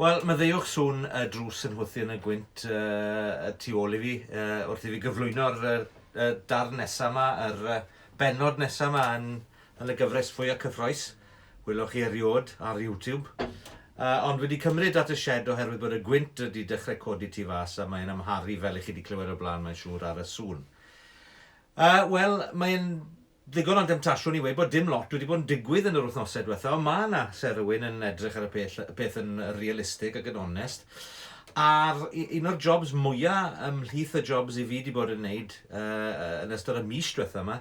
Wel, maddeuwch sŵn y drws yn hwthu yn y gwynt tu ôl i fi wrth i fi gyflwyno'r darn nesaf yma, yr benod nesaf yma yn y gyfres fwyaf cyffroes. Welwch chi eriod ar YouTube. Ond wedi cymryd at y shed oherwydd bod y gwynt wedi dechrau codi tu fas a mae'n amharu fel i chi wedi clywed o blaen mae'n siŵr ar y sŵn. Wel, mae'n Ddigon o demtasiwn i weud bod dim lot wedi bod yn digwydd yn yr wythnosau diwetha, ond mae yna, se rywun yn edrych ar y pell, y peth yn realistig ac yn onest. A'r un o'r jobs mwya ymhlith y jobs i fi wedi bod yn wneud uh, yn ystod y mis diwetha yma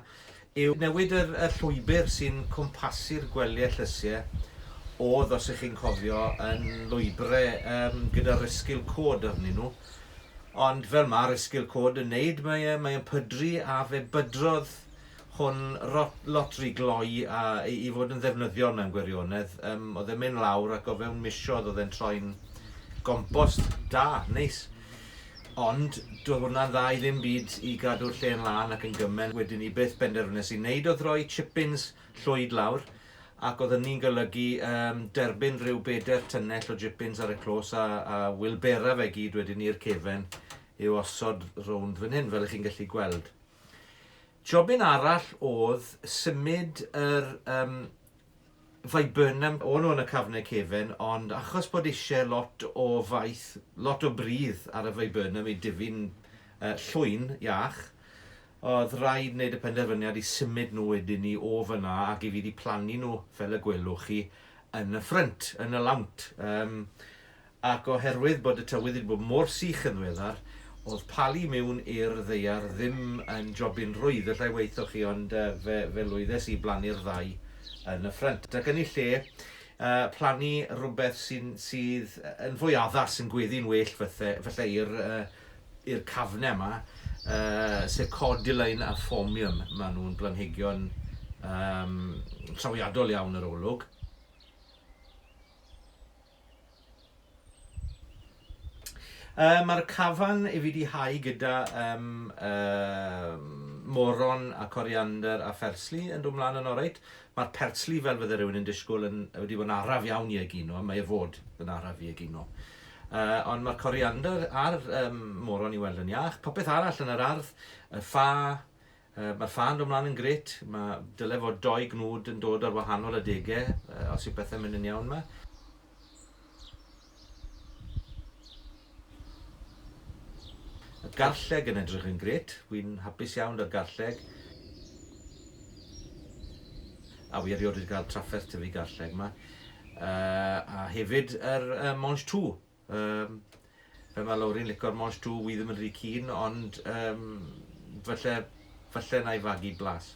yw newid yr, y llwybr sy'n cwmpasu'r gwelyau llysiau oedd, os ych chi'n cofio, yn lwybrau um, gyda risgil cod arnyn nhw. Ond fel mae'r esgil cod yn neud, mae e, mae e'n pydru a fe bydrodd hwn rot, lot ry gloi a, i, i fod yn ddefnyddiol mewn gwirionedd. Um, oedd e'n mynd lawr ac o fewn misodd oedd e'n troi'n gompost da, neis. Ond doedd hwnna'n dda i ddim byd i gadw'r lle yn lân ac yn gymen. Wedyn ni beth benderfynes i wneud oedd rhoi chippins llwyd lawr Ac oedd hynny'n golygu yym derbyn rhyw beder tynnell o jippins ar y clos a, a wilbera fe gyd wedyn i'r cefen i'w osod rownd fan hyn, fel ych chi'n gallu gweld. Jobyn arall oedd symud yr um, viburnum o'n o'n y cafnau cefen, ond achos bod eisiau lot o faith, lot o bridd ar y viburnum i difu'n uh, llwyn iach, Oedd raid wneud y penderfyniad i symud nhw wedyn ni o fan'na ac i fi wedi plannu nhw, fel y gwelwch chi, yn y ffrynt, yn y lawnt. Yym, ac oherwydd bod y tywydd wedi bod mor sych yn ddiweddar, oedd palu miwn i'r ddaear ddim yn jobyn rwydd, allai waetho chi, ond yy, fe, fe lwyddes i blannu'r ddau yn y ffrynt. Ac yn ei lle, yy, plannu rhywbeth sy'n, sydd yn fwy addas, yn gweddu'n well fatha, falle i'r yy, i'r cafnau yma, sef Cordyline a Phormium. Maen nhw'n blanhigion um, trawiadol iawn yr olwg. Uh, Mae'r cafan i fi di hau gyda um, uh, moron a coriander a phersli yn dod mlaen yn oreit. Mae'r persli fel fydde rhywun yn disgwyl yn, wedi bod yn araf iawn i egino, mae e fod yn araf i egino. Yy, ond mae'r coriander a'r um, moron i weld yn iach. Popeth arall yn yr ardd, y ffa, uh, mae'r ffa yn dod mlaen yn gret. Mae dyle fod doi gnwd yn dod ar wahanol adegau, uh, os yw pethau'n mynd yn iawn yma. Y garlleg yn edrych yn gret. Wy'n hapus iawn da'r garlleg. A wy erioed wedi cael trafferth tyfu garlleg yma. a hefyd yr uh, Mange Tout. Um, fe mae Lowri'n licor Mange Tout, wy ddim yn rhy cyn, ond um, falle, falle na i fagu blas.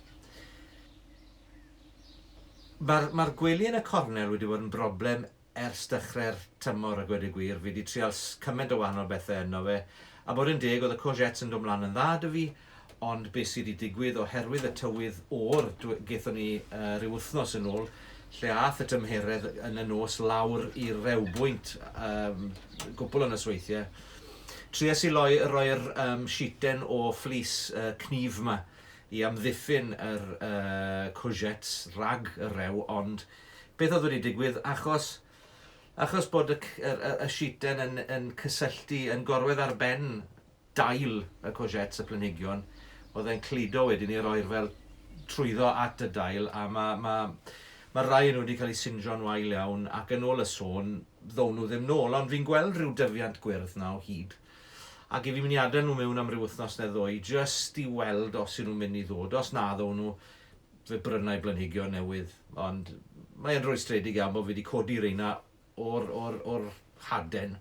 Mae'r ma gwely yn y cornel wedi bod yn broblem ers dechrau'r tymor a gwedig gwir. Fi wedi trial cymaint o wahanol bethau yno fe. A bod yn deg, oedd y courgettes yn dod mlaen yn dda dy fi, Ond be sy 'di digwydd oherwydd y tywydd o'r, gaethon ni ryw wythnos yn ôl lle ath y tymheredd yn y nos lawr i rewbwynt gwpl o nosweithie. Tries i loi, roi'r sheeten o fleece cnyf 'ma i amddiffyn yr courgettes rhag y rew ond beth oedd wedi digwydd achos achos bod y sheeten yn cysylltu yn gorwedd ar ben dail y courgettes, y planhigion, oedd e'n cludo wedyn ni roi'r fel trwyddo at y dail a ma' ma' ma' rai o nhw wedi cael eu sinjo'n wael iawn ac yn ôl y sôn ddown nhw ddim nôl ond fi'n gweld rhyw dyfiant gwyrdd 'na o hyd ac i fi mynd i adael nhw mewn am ryw wythnos neu ddwy jyst i weld os yw nhw'n mynd i ddod, os na ddown nhw fe brynai blanhigion newydd ond mae e'n rwystredig iawn bod fi wedi codi reina o'r o'r o'r haden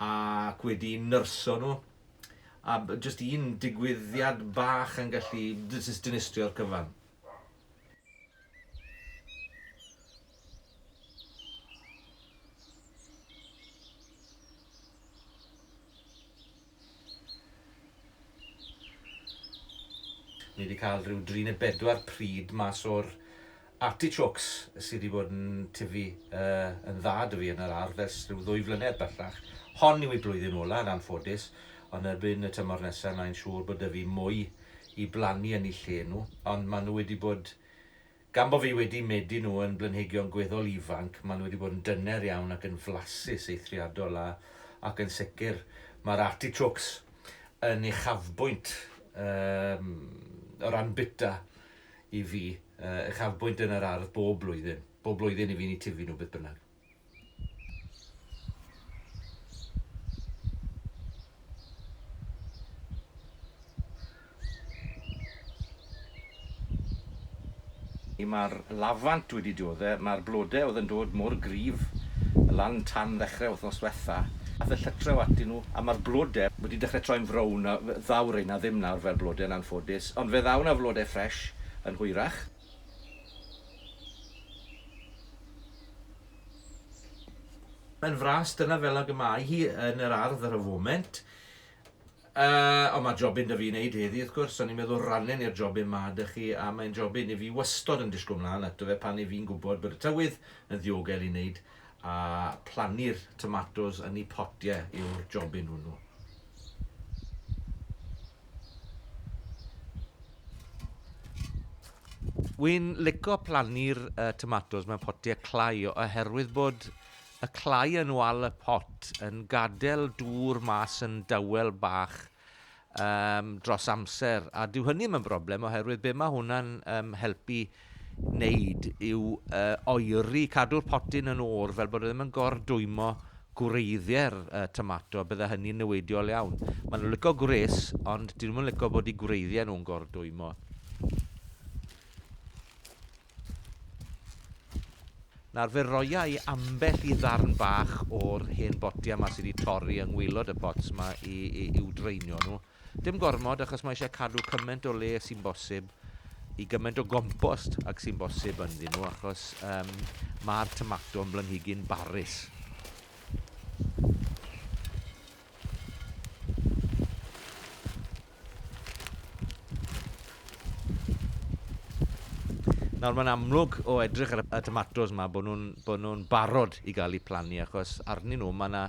ac wedi nyrsio nhw a b- jyst un digwyddiad bach yn gallu d- jyst dinistrio'r cyfan. Ni 'di cael rhyw dri neu bedwar pryd mas o'r artichokes sy 'di bod yn tyfu yn dda 'da fi yn yr ardd ers rhyw ddwy flynedd bellach. Hon yw ei blwyddyn ola yn anffodus, ond erbyn y tymor nesa mae'n siŵr bod 'da fi mwy i blannu yn 'u lle nhw, ond ma' nhw wedi bod Gan bo fi wedi medi nhw yn blanhigion gweddol ifanc, maen nhw wedi bod yn dyner iawn ac yn flasus, eithriadol a, ac yn sicr, mae'r artichokes yn uchafbwynt, yym, o ran bwyta i fi, yy, uchafbwynt yn yr ardd bob blwyddyn. Bob blwyddyn i fi, ni tifi nhw beth bynnag. Mae'r lafant wedi diodde', mae'r blode' oedd yn dod mor gryf lan tan ddechre wthnos dwetha', ath y llytre o atyn nhw, a mae'r blode' wedi dechre troi'n frown, a ddaw reina ddim nawr fel blode' yn anffodus, ond fe ddaw 'na flode' ffresh yn hwyrach. Mae'n fras, dyna fel ag y mae hi yn yr ardd ar y foment. Uh, ond mae jobyn da fi wneud heddi, wrth gwrs, o'n i'n meddwl rannen i'r jobyn ma da chi, a mae'n jobyn i fi wastod yn disgwyl mlaen ato fe pan i fi'n gwybod bod y tywydd yn ddiogel i wneud A plannu'r tomatos yn i potie yw'r jobyn hwnnw. Wi'n lico plannu'r uh, tomatos mewn potie clai oherwydd bod y clai yn wal y pot yn gadael dŵr mas yn dawel bach yym dros amser, a dyw hynny ddim yn broblem oherwydd be mae hwnna'n um, helpu wneud yw uh, oeri, cadw'r potyn yn o'r fel bod e ddim yn gordwymo gwreiddiau'r uh, tomato, bydde hynny'n newidiol iawn. Maen nhw'n licio gwres, ond dyn nhw'n licio bod i gwreiddiau nhw'n gordwymo. Nawr fe roia i ambell i ddarn bach o'r hen botia yma sydd wedi torri yng ngwylod y pots yma i, i, i'w draenio nhw. Dim gormod achos mae eisiau cadw cymaint o le sy'n bosib i gymaint o gompost ac sy'n bosib ynddyn nhw achos um, mae'r tomato yn blanhigyn barus. Nawr mae'n amlwg o edrych ar y tomatos yma bod nhw'n bod nhw'n barod i gael eu plannu achos arnyn nhw mae yna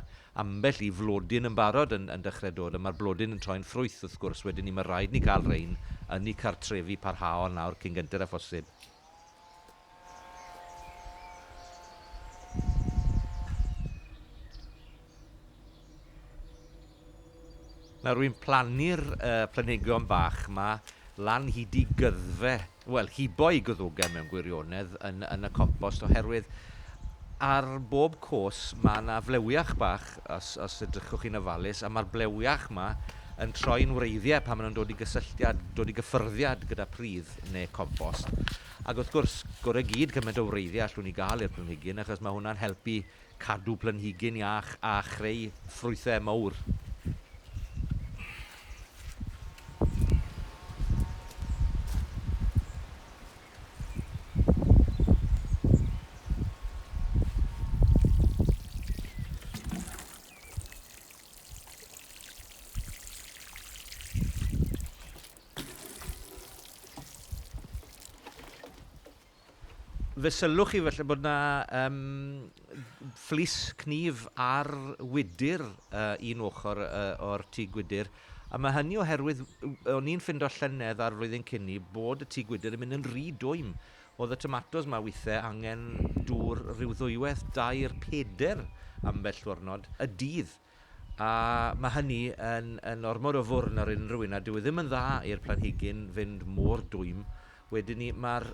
ambell i flodyn yn barod yn, yn dechrau dod a mae'r blodyn yn troi'n ffrwyth wrth gwrs wedyn ni mae rhaid ni cael rhain yn eu cartrefi parhaol nawr cyn gynted â phosib. Nawr wi'n plannu'r yy planhigion bach 'ma lan hyd i gyddfe, wel hibo'i gwddwgen mewn gwirionedd yn yn y compost oherwydd ar bob cos ma' 'na flewiach bach os os edrychwch chi'n ofalus a ma'r blewiach 'ma yn troi'n wreiddie pan ma' nw'n dod i gysylltiad dod i gyffyrddiad gyda pridd ne' compost. Ac wrth gwrs, gore gyd cymaint o wreiddiau allwn ni gael i'r planhigyn achos mae hwnna'n helpu cadw planhigyn iach a chreu ffrwythau mawr. Fe sylwch chi falle bod 'na yym fflys cnyf ar wydr uh, un ochr uh, o'r tŷ gwydr, a mae hynny oherwydd o'n i'n ffindo llynedd a'r flwyddyn cyn i bod y tŷ gwydr yn mynd yn rhy dwym. Oedd y tomatos mae weithiau angen dŵr rhyw ddwywaith, dair, peder ambell ddwrnod y dydd. A mae hynny yn yn ormod o fwrn ar unrhyw un, a dyw e ddim yn dda i'r planhigyn fynd mor dwym. Wedyn 'ny ma'r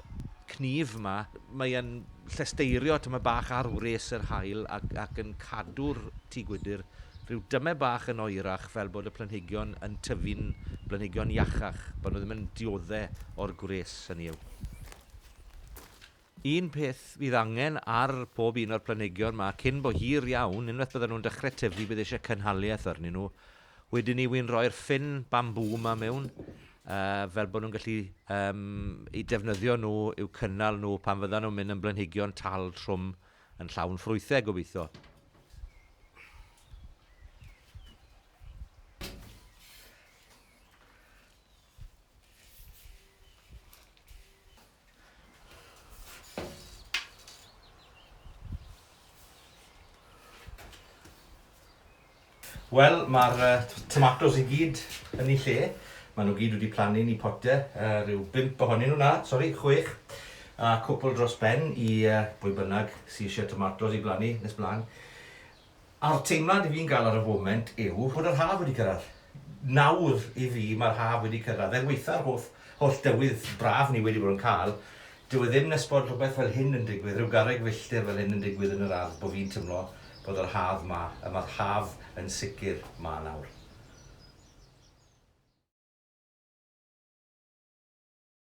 cnyf 'ma, mae e'n llesteirio tamaid bach ar wres yr haul ac ac yn cadw'r tŷ gwydr rhyw damaid bach yn oerach fel bod y planhigion yn tyfu'n blanhigion iachach, bod nhw ddim yn diodde' o'r gwres, hynny yw. Un peth fydd angen ar pob un o'r planhigion 'ma cyn bo hir iawn, unwaith bydden nhw'n dechre tyfu bydd eisiau cynhaliaeth arnyn nhw, wedyn 'ny wi'n rhoi'r ffyn bambŵ 'ma mewn, yy fel bod nhw'n gallu yym 'u defnyddio nhw i'w cynnal nhw pan fyddan nhw'n mynd yn blanhigion tal trwm yn llawn ffrwythau gobeithio. Wel, mae'r tomatos i gyd yn eu lle. Maen nhw gyd wedi plannu yn eu pote, rhyw bump ohonyn nhw, na, sori, chwech, a cwpl dros ben i bwy bynnag sy eisiau tomatos i blannu nes blaen. A'r teimlad i fi'n gael ar y foment yw bod yr haf wedi cyrraedd. Nawr, i fi, mae'r haf wedi cyrraedd. Er weitha'r holl, holl dywydd braf ni wedi bod yn cael, dyw e ddim nes bod rhywbeth fel hyn yn digwydd, rhyw garreg filltir fel hyn yn digwydd yn yr ardd, bod fi'n teimlo bod yr haf 'ma, a mae'r haf yn sicr 'ma nawr.